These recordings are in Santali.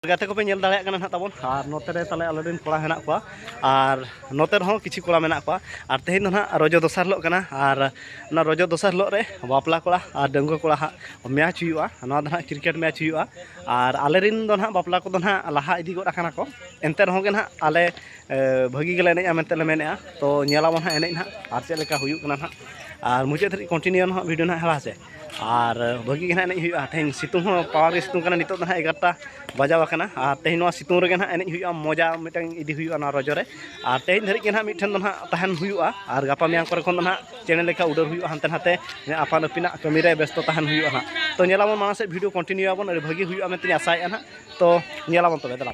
ᱜᱟᱛᱮ ᱠᱚᱯᱮ ᱧᱮᱞ ᱫᱟᱲᱮᱭᱟᱜ ᱠᱟᱱᱟ ᱱᱟᱦᱟᱜ ᱛᱟᱵᱚᱱ ᱟᱨ ᱱᱚᱛᱮ ᱨᱮ ᱛᱟᱞᱮ ᱟᱞᱮ ᱨᱮᱱ ᱠᱚᱲᱟ ᱦᱮᱱᱟᱜ ᱠᱚᱣᱟ ᱟᱨ ᱱᱚᱛᱮ ᱨᱮᱦᱚᱸ ᱠᱤᱪᱷᱩ ᱠᱚᱲᱟ ᱢᱮᱱᱟᱜ ᱠᱚᱣᱟ ᱟᱨ ᱛᱮᱦᱮᱧ ᱫᱚ ᱱᱟᱦᱟᱜ ᱨᱚᱡᱚ ᱫᱚᱥᱟᱨ ᱦᱤᱞᱳᱜ ᱠᱟᱱᱟ ᱟᱨ ᱚᱱᱟ ᱨᱚᱡᱚ ᱫᱚᱥᱟᱨ ᱦᱤᱞᱳᱜ ᱨᱮ ᱵᱟᱯᱞᱟ ᱠᱚᱲᱟ ᱟᱨ ᱰᱟᱺᱜᱩᱣᱟᱹ ᱠᱚᱲᱟ ᱦᱟᱸᱜ ᱢᱮᱪ ᱦᱩᱭᱩᱜᱼᱟ ᱱᱚᱣᱟ ᱫᱚ ᱱᱟᱦᱟᱜ ᱠᱨᱤᱠᱮᱴ ᱢᱮᱪ ᱦᱩᱭᱩᱜᱼᱟ ᱟᱨ ᱟᱞᱮ ᱨᱮᱱ ᱫᱚ ᱱᱟᱦᱟᱜ ᱵᱟᱯᱞᱟ ᱠᱚᱫᱚ ᱱᱟᱦᱟᱜ ᱞᱟᱦᱟ ᱤᱫᱤ ᱜᱚᱫ ᱟᱠᱟᱱᱟ ᱠᱚ ᱮᱱᱛᱮ ᱨᱮᱦᱚᱸ ᱜᱮ ᱱᱟᱦᱟᱜ ᱟᱞᱮ ᱵᱷᱟᱹᱜᱤ ᱜᱮᱞᱮ ᱮᱱᱮᱡᱼᱟ ᱢᱮᱱᱛᱮ ᱞᱮ ᱢᱮᱱᱮᱜᱼᱟ ᱛᱚ ᱧᱮᱞᱟᱵᱚᱱ ᱱᱟᱦᱟᱜ ᱮᱱᱮᱡ ᱱᱟᱦᱟᱜ ᱟᱨ ᱪᱮᱫ ᱞᱮᱠᱟ ᱦᱩᱭᱩᱜ ᱠᱟᱱᱟ ᱱᱟᱦᱟᱜ ᱟᱨ ᱢᱩᱪᱟᱹᱫ ᱫᱷᱟᱹᱨᱤᱡ ᱠᱚᱱᱴᱤᱱᱤᱭᱩ ᱱᱟᱦᱟᱜ ᱵᱷᱤᱰᱤᱭᱳ ᱱᱟᱦᱟᱜ ᱦᱮᱸ ᱥᱮ ᱟᱨ ᱵᱷᱟᱹᱜᱤ ᱜᱮ ᱱᱟᱦᱟᱜ ᱮᱱᱮᱡ ᱦᱩᱭᱩᱜᱼᱟ ᱛᱮᱦᱮᱧ ᱥᱤᱛᱩᱝ ᱦᱚᱸ ᱯᱟᱣᱟᱨ ᱜᱮ ᱥᱤᱛᱩᱝ ᱠᱟᱱᱟ ᱱᱤᱛᱚᱜ ᱫᱚ ᱱᱟᱦᱟᱜ ᱮᱜᱟᱨᱚᱴᱟ ᱵᱟᱡᱟᱣ ᱟᱠᱟᱱᱟ ᱟᱨ ᱛᱮᱦᱮᱧ ᱱᱚᱣᱟ ᱥᱤᱛᱩᱝ ᱨᱮᱜᱮ ᱱᱟᱦᱟᱜ ᱮᱱᱮᱡ ᱦᱩᱭᱩᱜᱼᱟ ᱢᱚᱡᱟ ᱢᱤᱫᱴᱟᱝ ᱤᱫᱤ ᱦᱩᱭᱩᱜᱼᱟ ᱱᱚᱣᱟ ᱨᱚᱡᱚ ᱨᱮ ᱟᱨ ᱛᱮᱦᱮᱧ ᱫᱷᱟᱹᱨᱤᱡ ᱜᱮ ᱱᱟᱦᱟᱜ ᱢᱤᱫᱴᱷᱮᱱ ᱫᱚ ᱱᱟᱦᱟᱜ ᱛᱟᱦᱮᱱ ᱦᱩᱭᱩᱜᱼᱟ ᱟᱨ ᱜᱟᱯᱟ ᱢᱮᱭᱟᱝ ᱠᱚᱨᱮ ᱠᱷᱚᱱ ᱫᱚ ᱱᱟᱦᱟᱜ ᱪᱮᱬᱮ ᱞᱮᱠᱟ ᱩᱰᱟᱹᱣ ᱦᱩᱭᱩᱜᱼᱟ ᱦᱟᱱᱛᱮ ᱱᱟᱛᱮ ᱟᱯᱟᱱ ᱟᱹᱯᱤᱱᱟᱜ ᱠᱟᱹᱢᱤ ᱨᱮ ᱵᱮᱥᱛᱚ ᱛᱟᱦᱮᱱ ᱦᱩᱭᱩᱜᱼᱟ ᱱᱟᱦᱟᱜ ᱛᱚ ᱧᱮᱞᱟᱵᱚᱱ ᱢᱟᱲᱟᱝ ᱥᱮᱫ ᱵᱷᱤᱰᱤᱭᱳ ᱠᱚᱱᱴᱤᱱᱤᱭᱩᱭᱟᱵᱚᱱ ᱟᱹᱰᱤ ᱵᱷᱟᱹᱜᱤ ᱦᱩᱭᱩᱜᱼᱟ ᱢᱮᱱᱛᱮᱧ ᱟᱥᱟᱭᱮᱫᱼᱟ ᱱᱟᱦᱟᱜ ᱛᱚ ᱧᱮᱞᱟᱵᱚᱱ ᱛᱚᱵᱮ ᱫᱮᱞᱟ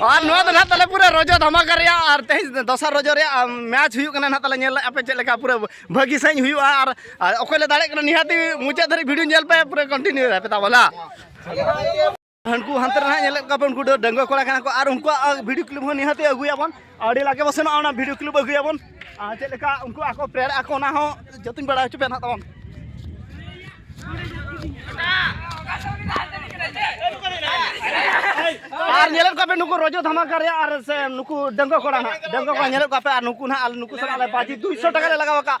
ᱟᱨ ᱱᱚᱣᱟ ᱫᱚ ᱱᱟᱦᱟᱜ ᱛᱟᱞᱮ ᱯᱩᱨᱟᱹ ᱨᱚᱡᱚ ᱫᱷᱟᱢᱟᱠᱟ ᱨᱮᱭᱟᱜ ᱟᱨ ᱛᱮᱦᱮᱧ ᱫᱚᱥᱟᱨ ᱨᱚᱡᱚ ᱨᱮᱭᱟᱜ ᱢᱮᱪ ᱦᱩᱭᱩᱜ ᱠᱟᱱᱟ ᱱᱟᱦᱟᱜ ᱛᱟᱞᱮ ᱧᱮᱞ ᱟᱯᱮ ᱪᱮᱫ ᱞᱮᱠᱟ ᱯᱩᱨᱟᱹ ᱵᱷᱟᱹᱜᱤ ᱥᱟᱺᱦᱤᱡ ᱦᱩᱭᱩᱜᱼᱟ ᱟᱨ ᱚᱠᱚᱭ ᱞᱮ ᱫᱟᱲᱮᱜ ᱠᱟᱱᱟ ᱱᱤᱦᱟᱹᱛ ᱢᱩᱪᱟᱹᱫ ᱫᱷᱟᱹᱨᱤᱡ ᱵᱷᱤᱰᱤᱭᱳ ᱧᱮᱞ ᱯᱮ ᱯᱩᱨᱟᱹ ᱠᱚᱱᱴᱤᱱᱤᱭᱩ ᱨᱮ ᱯᱮ ᱛᱟᱵᱚᱞᱟ ᱦᱟᱱᱠᱩ ᱦᱟᱱᱛᱮ ᱨᱮ ᱧᱮᱞᱮᱫ ᱠᱚᱣᱟ ᱵᱚᱱ ᱩᱱᱠᱩ ᱫᱚ ᱰᱟᱺᱜᱩᱣᱟᱹ ᱠᱚᱲᱟ ᱠᱟᱱᱟ ᱠᱚ ᱟᱨ ᱩᱱᱠᱩᱣᱟᱜ ᱵᱷᱤᱰᱤᱭᱳ ᱠᱞᱤᱯ ᱦᱚᱸ ᱱᱤᱦᱟᱹᱛ ᱟᱹᱜᱩᱭᱟᱵᱚᱱ ᱟᱹᱰᱤ ᱞᱟᱜᱮ ᱵᱚ ᱥᱮᱱᱚᱜᱼᱟ ᱚᱱᱟ ᱵᱷᱤᱰᱤᱭᱳ ᱠᱞᱤᱯ ᱟᱹᱜᱩᱭᱟᱵᱚᱱ ᱟᱨ ᱪᱮᱫ ᱞᱮᱠᱟ ᱩᱱᱠᱩ ᱟᱠᱚ ᱯᱨᱮᱭᱟᱨ ᱟᱠᱚ ᱚᱱᱟ ᱦᱚᱸ ᱡᱚᱛᱚᱧ ᱵᱟᱲᱟᱭ ᱦᱚᱪᱚ ᱯᱮᱭᱟ ᱱᱟᱜ ᱛᱟᱵᱚᱱ ᱟᱨ ᱧᱮᱞᱮᱫ ᱠᱚᱣᱟ ᱯᱮ ᱱᱩᱠᱩ ᱨᱚᱡᱚ ᱫᱷᱟᱢᱟᱠᱟ ᱨᱮ ᱟᱨ ᱥᱮ ᱱᱩᱠᱩ ᱰᱟᱺᱜᱩᱣᱟᱹ ᱠᱚᱲᱟ ᱱᱟᱜ ᱰᱟᱺᱜᱩᱣᱟᱹ ᱠᱚᱲᱟ ᱧᱮᱞᱮᱫ ᱠᱚᱣᱟ ᱯᱮ ᱟᱨ ᱱᱩᱠᱩ ᱱᱟᱜ ᱟᱞᱮ ᱱᱩᱠᱩ ᱥᱟᱞᱟᱜ ᱞᱮ ᱵᱟᱡᱤ ᱫᱩᱭᱥᱚ ᱴᱟᱠᱟ ᱞᱮ ᱞᱟᱜᱟᱣ ᱟᱠᱟᱫ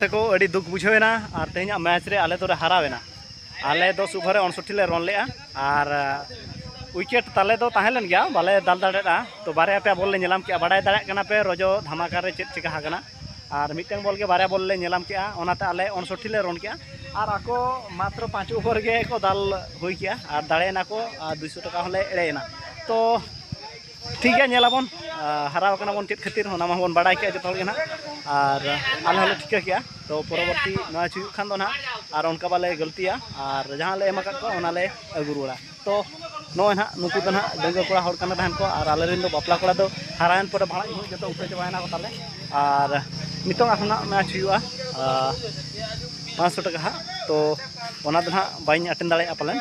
ᱛᱟᱠᱚ ᱟᱹᱰᱤ ᱫᱩᱠ ᱵᱩᱡᱷᱟᱹᱣ ᱮᱱᱟ ᱟᱨ ᱛᱮᱦᱮᱧᱟᱜ ᱢᱮᱪ ᱨᱮ ᱟᱞᱮ ᱫᱚᱞᱮ ᱦᱟᱨᱟᱣ ᱮᱱᱟ ᱟᱞᱮ ᱫᱚᱥ ᱳᱵᱷᱟᱨ ᱨᱮ ᱚᱱᱥᱚᱴᱴᱤ ᱞᱮ ᱨᱚᱱ ᱞᱮᱜᱼᱟ ᱟᱨ ᱩᱭᱠᱮᱴ ᱛᱟᱞᱮ ᱫᱚ ᱛᱟᱦᱮᱸ ᱞᱮᱱ ᱜᱮᱭᱟ ᱵᱟᱞᱮ ᱫᱟᱞ ᱫᱟᱲᱮᱭᱟᱜᱼᱟ ᱛᱚ ᱵᱟᱨᱭᱟ ᱯᱮᱭᱟ ᱵᱚᱞ ᱞᱮ ᱧᱮᱞᱟᱢ ᱠᱮᱜᱼᱟ ᱵᱟᱰᱟᱭ ᱫᱟᱲᱮᱭᱟᱜ ᱠᱟᱱᱟ ᱯᱮ ᱨᱚᱡᱚ ᱫᱷᱟᱢᱟᱠᱟ ᱨᱮ ᱪᱮᱫ ᱪᱤᱠᱟ ᱟᱠᱟᱱᱟ ᱟᱨ ᱢᱤᱫᱴᱟᱝ ᱵᱚᱞ ᱜᱮ ᱵᱟᱨᱭᱟ ᱵᱚᱞ ᱞᱮ ᱧᱮᱞᱟᱢ ᱠᱮᱜᱼᱟ ᱚᱱᱟᱛᱮ ᱟᱞᱮ ᱚᱱᱥᱚᱴᱴᱤ ᱞᱮ ᱨᱚᱱ ᱠᱮᱜᱼᱟ ᱟᱨ ᱟᱠᱚ ᱢᱟᱛᱨᱚ ᱯᱟᱸᱪ ᱳᱵᱷᱟᱨ ᱜᱮ ᱠᱚ ᱫᱟᱞ ᱦᱩᱭ ᱠᱮᱜᱼᱟ ᱟᱨ ᱫᱟᱲᱮᱭᱮᱱᱟ ᱠᱚ ᱟᱨ ᱫᱩᱭᱥᱚ ᱴᱟᱠᱟ ᱦᱚᱸᱞᱮ ᱮᱲᱮᱭᱮᱱᱟ ᱛᱚ ᱴᱷᱤᱠ ᱜᱮᱭᱟ ᱧᱮᱞ ᱟᱵᱚᱱ ᱦᱟᱨᱟᱣ ᱠᱟᱱᱟ ᱵᱚᱱ ᱪᱮᱫ ᱠᱷᱟᱹᱛᱤᱨ ᱚᱱᱟ ᱢᱟ ᱵᱚᱱ ᱵᱟᱲᱟᱭ ᱠᱮᱜᱼᱟ ᱡᱚᱛᱚ ᱦᱚᱲ ᱜᱮ ᱱᱟᱜ ᱟᱨ ᱟᱞᱮ ᱦᱚᱸᱞᱮ ᱴᱷᱤᱠᱟᱹ ᱠᱮᱜᱼᱟ ᱛᱚ ᱯᱚᱨᱚᱵᱚᱨᱛᱤ ᱱᱚᱣᱟ ᱦᱩᱭᱩᱜ ᱠᱷᱟᱱ ᱫᱚ ᱱᱟᱜ ᱟᱨ ᱚᱱᱠᱟ ᱵᱟᱞᱮ ᱜᱟᱹᱞᱛᱤᱭᱟ ᱟᱨ ᱡᱟᱦᱟᱸ ᱞᱮ ᱮᱢ ᱟᱠᱟᱫ ᱠᱚᱣᱟ ᱚᱱᱟ ᱞᱮ ᱟᱹᱜᱩ ᱨᱩᱣᱟᱹᱲᱟ ᱛᱚ ᱱᱚᱜᱼᱚᱭ ᱱᱟᱜ ᱱᱩᱠᱩ ᱫᱚ ᱱᱟᱜ ᱰᱟᱹᱝᱜᱩᱣᱟᱹ ᱠᱚᱲᱟ ᱦᱚᱲ ᱠᱟᱱᱟ ᱛᱟᱦᱮᱱ ᱠᱚ ᱟᱨ ᱟᱞᱮ ᱨᱮᱱ ᱫᱚ ᱵᱟᱯᱞᱟ ᱠᱚᱲᱟ ᱫᱚ ᱦᱟᱨᱟᱭᱮᱱ ᱯᱚᱨᱮ ᱵᱷᱟᱲᱟ ᱧᱩ ᱡᱚᱛᱚ ᱩᱴᱟᱹ ᱪᱟᱵᱟᱭᱮᱱᱟ ᱠᱚ ᱛᱟᱞᱮ ᱟᱨ ᱱᱤᱛᱚᱝ ᱟᱨᱦᱚᱸ ᱱᱟᱜ ᱢᱮᱪ ᱦᱩᱭᱩᱜᱼᱟ ᱯᱟᱸᱪᱥᱚ ᱴᱟᱠᱟ ᱦᱟᱸᱜ ᱛᱚ ᱚᱱᱟ ᱫᱚ ᱱᱟᱜ ᱵᱟᱹᱧ ᱟᱴᱮᱱ ᱫᱟᱲᱮᱭᱟᱜᱼᱟ ᱯᱟᱞᱮᱱ